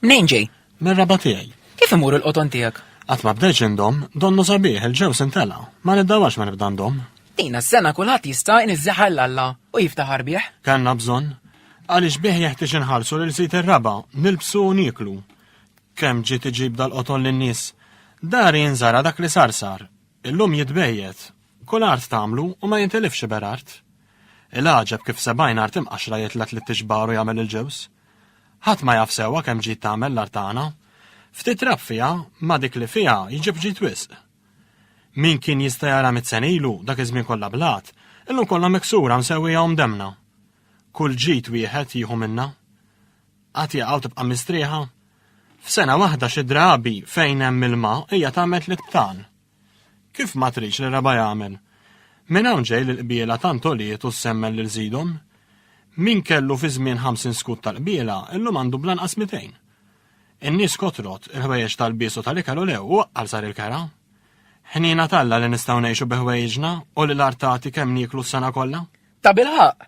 Mnejn ġej? Mir-raba tiegħi. Kif imur il-qoton tiegħek? Qatt ma bdejx indom, donnu sabiħ il-ġew sintela, ma nibdawax ma nibda ndom. Dina s-sena kulħadd jista' inizzaħar l-alla u jiftaħar bih. Kanna bżonn. Għaliex bih jeħtieġ inħarsu lil sit ir-raba, nilbsu u nieklu. Kemm ġiet iġib dal-qotol lin-nies! Dari inżara dak li sar sar. Illum jitbejjet. Kull art tagħmlu u ma jintilifx iberart. Il-għaġeb kif sebgħin art imqaxxra jitlgħet lit-tixbar u jagħmel il-ġewż. Ħadd ma jaf sewwa kemm ġiet tagħmel l-art tagħna. Ftit trab fiha, ma dik li fiha jġib ġid wisq. Min kien jista' jara mitt sena ilu dak iż-żmien kollha blat, illum kollha miksura msewwija u mdemmna. Kull ġid wieħed jieħu minna. Qatt jaqaw tibqa' mistrieħa? F'sena waħda xi drabi fejn hemm ilma hija tagħmel tliet btan. Kif ma tridx li raba jagħmel? Minn hawn ġej li l-qbiela tant għoliet u ssemmen lil żidhom. Min kellu fi żmien 50 skut tal-qbiela illum għandu blanqas 200. In-nies kotrot, il-ħwejjeġ tal-bies u tal-ikel u lew u għal sar il-kera. Ħnina talla li nistgħu ngħixu bi ħwejġna u li l-artati kemm nieklu s-sena kollha. Ta' bilħaq,